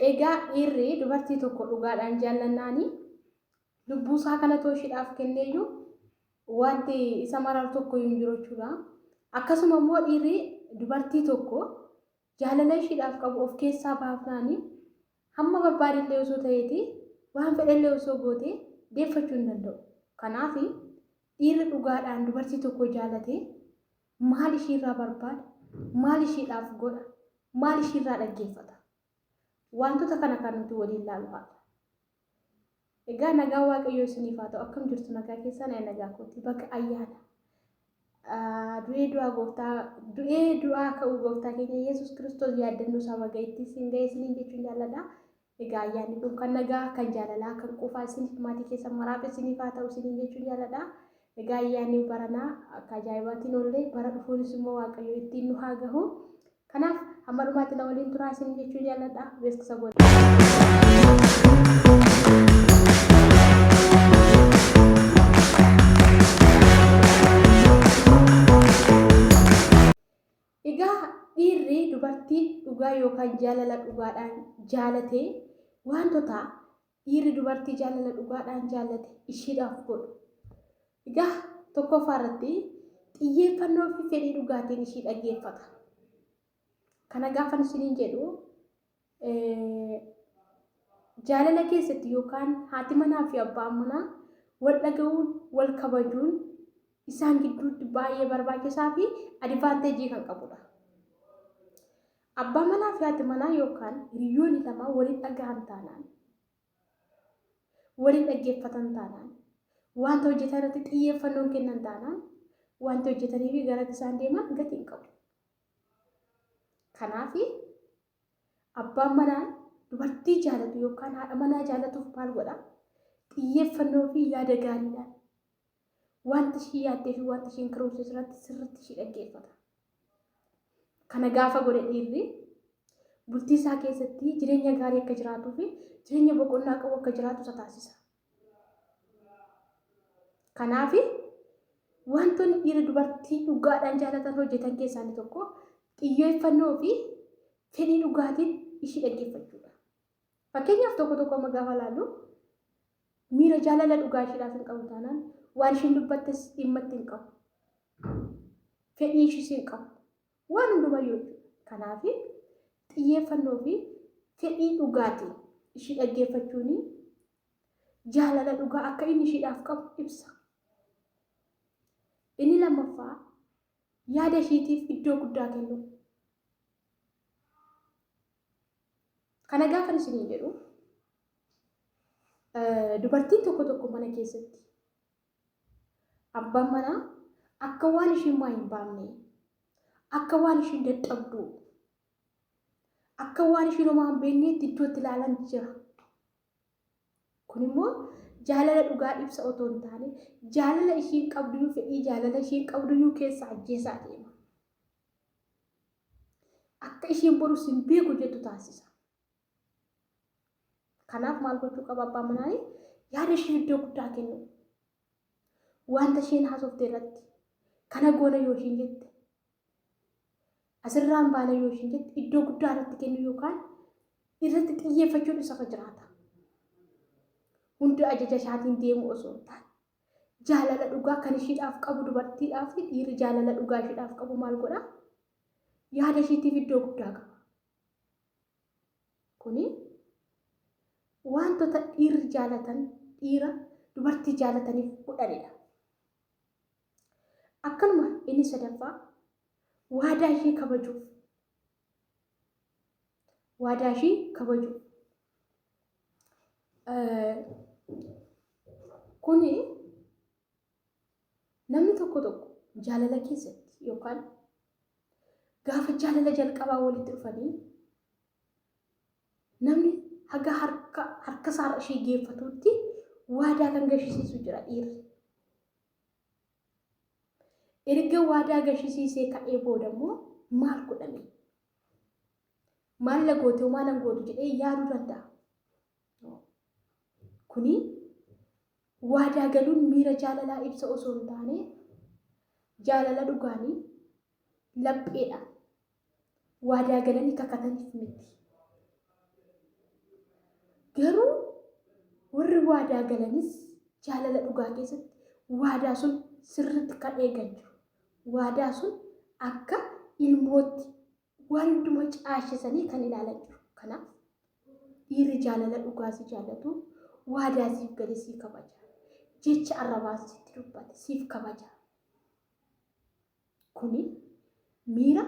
Egaa dhiirri dubartii tokko dhugaadhaan jaallannaani lubbuusaa kana too ishidhaaf kenneeyyuu wanti isa mararu tokkoyyuu hin jiru jechuudha. Akkasuma immoo dhiirri dubartii tokko jaalala ishiidhaaf qabu of keessaa baafnaani hamma barbaadillee osoo ta'eeti waan fedhellee osoo goote deeffachuu hin danda'u. Kanaaf dhiirri dhugaadhaan dubartii tokko jaalate Maal ishiirraa barbaada? Maal ishiidhaaf godha? Maal ishiirraa dhaggeeffata? Waantota kana kan nuti waliin laalu haadha. Egaa nagaa Waaqayyoo isiniif haa ta'u akkam jirtu nagaa keessaan ee nagaa kooti baga ayyaana du'ee du'aa gooftaa du'ee du'aa ka'uu gooftaa keenya Yesuus Kiristoos yaaddannoo isaa baga ittiin siin ga'ee isiniin jechuun jaalladha. Egaa ayyaanni kun kan nagaa, kan jaalalaa, kan quufaa isiniif, maatii keessan maraaf isiniif haa ta'u isiniin jechuun jaaladha. Egaa ayyaanni baranaa akka ajaa'ibaatiin oollee bara dhufuunis immoo Waaqayyo ittiin nu haa gahu. Kanaaf hamma dhumaatti na waliin turaa isiniin jechuun jaaladha. Beeksisa goona. Egaa dhiirri dubartii dhugaa yookaan jaalala dhugaadhaan jaalate waantota dhiirri dubartii jaalala dhugaadhaan jaallate ishiidhaaf godhu. Egaa tokkoffaa irratti xiyyeeffannoo fi fedhii dhugaatiin ishii dhaggeeffata. Kana gaafan isiniin jedhu Jaalala keessatti yookaan haati manaa fi abbaan manaa wal dhaga'uun, wal kabajuun isaan gidduutti baay'ee barbaachisaa fi adivaanteejii kan qabudha. Abbaa manaa fi haati manaa yookaan hiriyoonni lama waliin dhaga'an taanaan, waliin dhaggeeffatan taanaan, wanta hojjetan irratti xiyyeeffannoon kennan taanaan, wanta hojjetanii fi garatti isaan deeman gatii hin qabu. Kanaaf abbaan manaa dubartii jaalatu yookaan haadha manaa jaalatuuf maal godha? Xiyyeeffannoo fi yaada gaariidhaan wanta ishii yaaddee fi wanta ishiin karoorsitu irratti sirriitti ishii dhaggeeffata. Kana gaafa godhe dhiirri bultii isaa keessatti jireenya gaarii akka jiraatuu fi jireenya boqonnaa qabu akka jiraatu isa taasisa. Kanaaf wantoonni dhiira dubartii dhugaadhaan jaalatan hojjetan keessaa inni tokko xiyyeeffannoo fi fedhii dhugaatiin ishii dhaggeeffachuudha. Fakkeenyaaf tokko tokko amma gaafa laallu miira jaalala dhugaa ishiidhaaf hin qabu taanaan waan ishiin dubbattes dhimmatti hin qabu. Fedhii ishiis hin qabu. Waan hundumayyuu jechuudha. Kanaafi, xiyyeeffannoo fi fedhii dhugaatiin ishii dhaggeeffachuun jaalala dhugaa akka inni ishiidhaaf qabu ibsa. Inni lammaffaa yaada ishiitiif iddoo guddaa kennuu. Kana gaafan isiniin jedhu dubartiin tokko tokko mana keessatti Abbaan manaa akka waan ishiin waa hin baamnee, akka waan ishiin dadhabduu, akka waan ishiin homaa hin beekneetti iddoo itti ilaalan jira. Kun immoo jaalala dhugaa ibsa otoo hin taane jaalala ishiin qabduyyuu fedhii jaalala ishiin qabduyyuu keessa ajjeesaa deema. Akka ishiin borus hin beeku jettu taasisa. Kanaaf maal gochuu qaba abbaan manaa yaada ishee iddoo guddaa kennu. Wanta isheen haasofte irratti kana goona yoo isheen jette asirraan baana yoo isheen jette iddoo guddaa irratti kennu yookaan irratti xiyyeeffachuun isafa jiraata. Hundi ajaja isaatiin deemu osoo hin taane jaalala dhugaa kan ishiidhaaf qabu dubartiidhaaf dhiirri jaalala dhugaa ishiidhaaf qabu maal godha? Yaada ishiitiif iddoo guddaa qaba. Kuni waantota dhiirri jaalatan dhiira dubartii jaalataniif godhanidha. Akkanuma inni sadaffaa waadaa ishee kabajuuf. Waadaa ishee kabajuuf. Kuni Namni tokko tokko jaalala keessatti yookaan gaafa jaalala jalqabaa walitti dhufanii namni haga harka harka isaarra ishee geeffatuutti waadaa kan gashisiisu jira dhiirri. Erga waadaa gashisiisee ka'ee booda immoo maal godhame? Maal na goote homaa nan gootu jedhee yaaduu danda'a. Kuni Waadaa galuun miira jaalalaa ibsa osoo hin taane, jaalala dhugaan lapheedhaan waadaa galanii kakataniif miti. Garuu warri waadaa galanis jaalala dhugaa keessatti waadaa sun sirriitti kan eegan jiru. Waadaa sun akka ilmootti Waa hunduma caashisanii kan ilaalan jiru. Kanaaf dhiirri jaalala dhugaa si jaallatu waadaa siif gale sii kabaja. Jecha arrabaan sitti dubbate siif kabaja. Kuni miira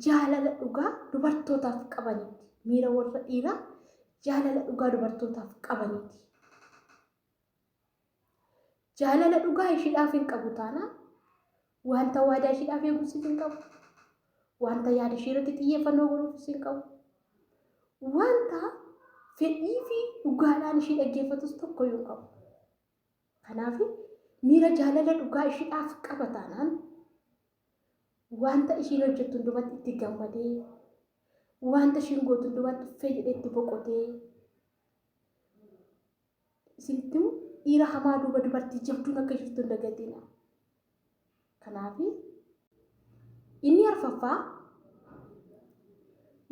jaalala dhugaa dubartootaaf qabaniiti. Miira warra dhiiraa jaalala dhugaa dubartootaaf qabaniiti. Jaalala dhugaa ishiidhaaf hin qabu taanaan wanta waadaa ishiidhaaf eegus hin qabu. Wanta yaada ishii irratti xiyyeeffannoo godhuufis hin qabu. Wanta fedhii fi dhugaadhaan ishii dhaggeeffatus tokko hin qabu. Kanaaf miira jaalala dhugaa ishiidhaaf qaba taanaan wanta ishiin hojjettu hundumatti itti gammadee wanta ishiin gootu hundumatti uffee jedhee itti boqotee isinitti himu dhiira hamaa duuba dubartii jabduun akka jirtu hin dagatina. Kanaaf inni arfaffaa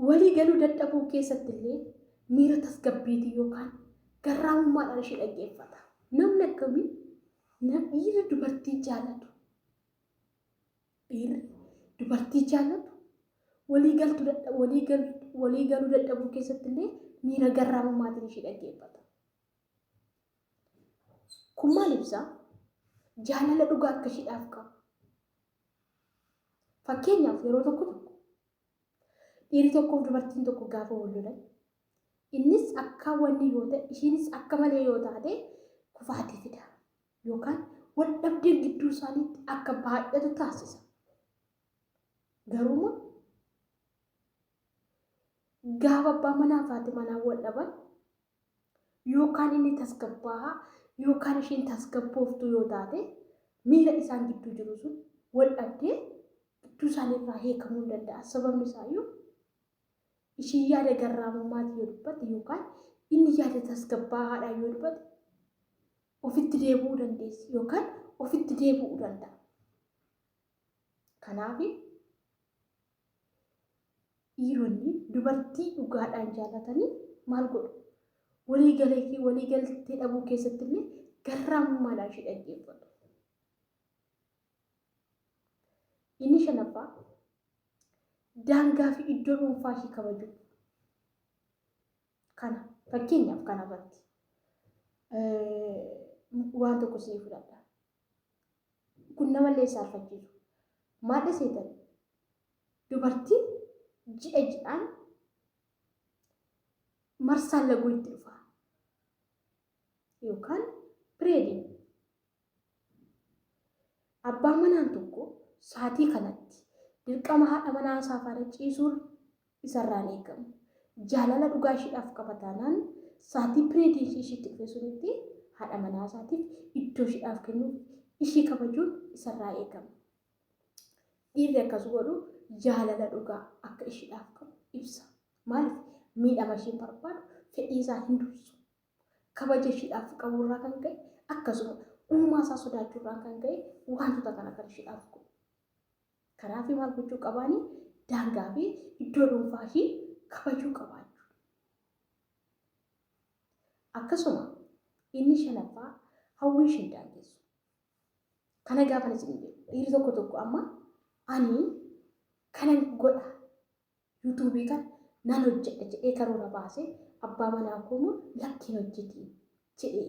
walii galuu dadhabuu keessatti illee miira tasgabbiitiin yookaan garraamummaadhaan ishee dhaggeeffata. Namni akkamii dhiirri dubartii jaalatu Dhiirri dubartii jaallatu walii galtu dadha- walii gal- walii galuu dadhabuu keessatti illee miira garraamumaatiin ishii dhaggeeffata. Kun maal ibsa? Jaalala dhugaa akka ishiidhaaf qabu. Fakkeenyaaf yeroo tokko tokko dhiirri tokkoof dubartiin tokko gaafa wal lolan innis akka wanni yoo ta'e ishiinis akka malee yoo taate kufaatii fida. yookaan wal dhabdeen gidduu isaaniitti akka baay'atu taasisa. Garuuma gaafa abbaa manaa fi haati manaa wal dhaban yookaan inni tasgabbaa'aa yookaan isheen tasgabbooftuu yoo taate miira isaan gidduu jiru sun wal dhabdee gidduu isaanii irraa hiikamuu hin danda'a. Sababni isaayyuu isheen yaada garraamummaati yoo dubbate yookaan inni yaada tasgabbaa'aadhaan yoo dubbate ofitti deebi'uu dandeessi yookaan ofitti deebi'uu danda'a. Kanaaf dhiironni dubartii dhugaadhaan jaalatanii maal godhu? Walii galee fi walii galtee dhabuu keessatti illee garraamummaadhaan ishee dhaggeeffatu. Inni shanaffaa daangaa fi iddoo dhuunfaa ishee kabajuu. Kana fakkeenyaaf kana irratti waan tokko sii fudhadha. Kun namallee saalfachiisu. Maal dhiseetan? Dubartiin ji'a ji'aan marsaan laguu itti dhufa. Yookaan pireediin Abbaan manaan tokko saatii kanatti dirqama haadha manaa isaa faana ciisuun isarraa hin eegamu. Jaalala dhugaa ishiidhaaf qaba taanaan saatii pireedii ishii ishiitti dhufe sunitti haadha manaa isaatiif iddoo ishiidhaaf kennuuf ishii kabajuun isarraa eegama. Dhiirri akkas godhu jaalala dhugaa akka ishiidhaaf qabu ibsa. Maaliif miidhama ishiin barbaadu fedhii isaa hin dursu. Kabaja ishiidhaaf qabu irraa kan ka'e akkasuma uumaa isaa sodaachuu irraa kan ka'e wantoota kana kan ishiidhaaf godhu. Kanaaf maal gochuu qabaani? Daangaa fi iddoo dhuunfaa ishii kabajuu qabaachuu. Akkasuma inni shanaffaa hawwii ishii hin daangessu. Kana gaafa isin jedhu dhiirri tokko tokko amma ani kanan godha Yuutuubii kana nan hojjedha jedhee karoora baasee abbaa manaa koo immoo lakki hin hojjetiin jedhee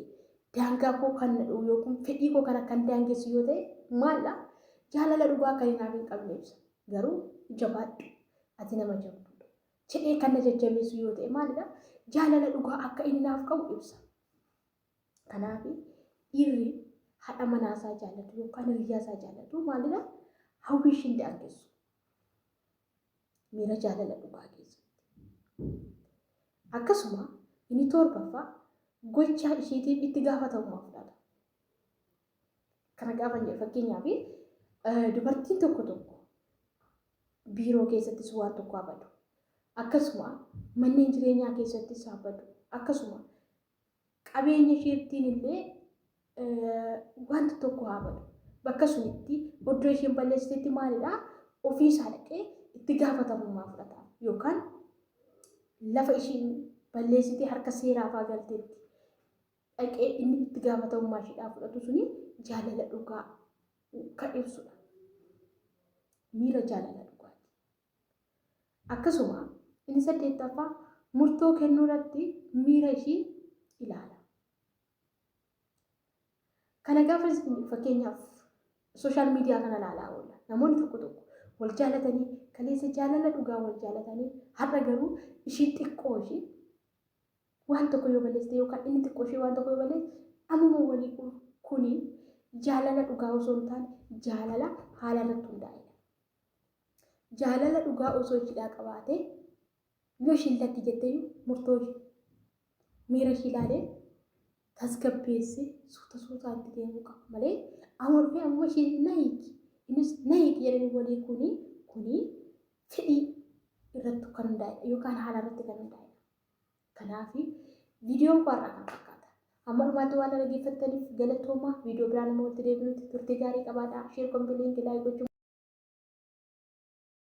daangaa koo kan nadhuu yookiin fedhii koo kana kan daangessu yoo ta'e maalla jaalala dhugaa kan hinaaf hin qabne ibsa garuu jabaadhu ati nama jabduudha jedhee kan na jajjabeessu yoo ta'e maalidha jaalala dhugaa akka inni naaf qabu ibsa kanaaf dhiirri haadha manaa isaa jaallatu yookaan hiriyyaa isaa jaallatu maalidha hawwii ishiin daangessu miira jaalala dhugaa keessatti. Akkasuma inni torbaffaa gochaa isheetiif itti gaafatamummaa fudhata. Kana gaafa jedhu fakkeenyaaf dubartiin tokko tokko biiroo keessattis waan tokko haa badu. Akkasuma manneen jireenyaa keessattis haa badu. Akkasuma Qabeenyi Fiirtiin illee wanta tokko haa badu. Bakka sunitti oddoo isheen balleessitetti maalidha? Ofii isaa dhaqee itti gaafatamummaa fudhata. Yookaan lafa isheen balleessitee harka seeraa faa galteetti dhaqee inni itti gaafatamummaa isheedhaa fudhatu suni jaalala dhugaa kan ibsudha. Miira jaalala dhugaati. Akkasuma, inni saddeettaffaa murtoo kennuurratti miira ishii ilaala. Kana gaafa jennu fakkeenyaaf sooshaal miidiyaa kana ilaalaa oolla. Namoonni tokko tokko wal jaalatanii kaleessa jaalala dhugaa wal jaalatanii har'a garuu ishii xiqqoo ishii waan tokko yoo balleessite yookaan inni xiqqoo ishii waan tokko yoo balleesse ammuma walii kuni jaalala dhugaa osoo hin taane jaalala haala irratti hundaa'edha. jaalala dhugaa osoo ishiidhaa qabaatee yoo ishiin lakki jetteeyu murtoo ishii miira ishii ilaalee tasgabbeessee suuta suutaa itti deemuu qaba malee amurfee ammoo ishiin na hiiki innis na hiiki jedhanii walii kuni kuni fedhii irratti kan hundaa'edha yookaan haala irratti kan hundaa'edha. Kanaaf viidiyoon koo har'aa kana fakkaata. Hamma dhumaatti waan na dhaggeeffattaniif galatoomaa. Viidiyoo biraan amma walitti deebinutti turtii gaarii qabaadhaa. Share, comment, link, like gochuun.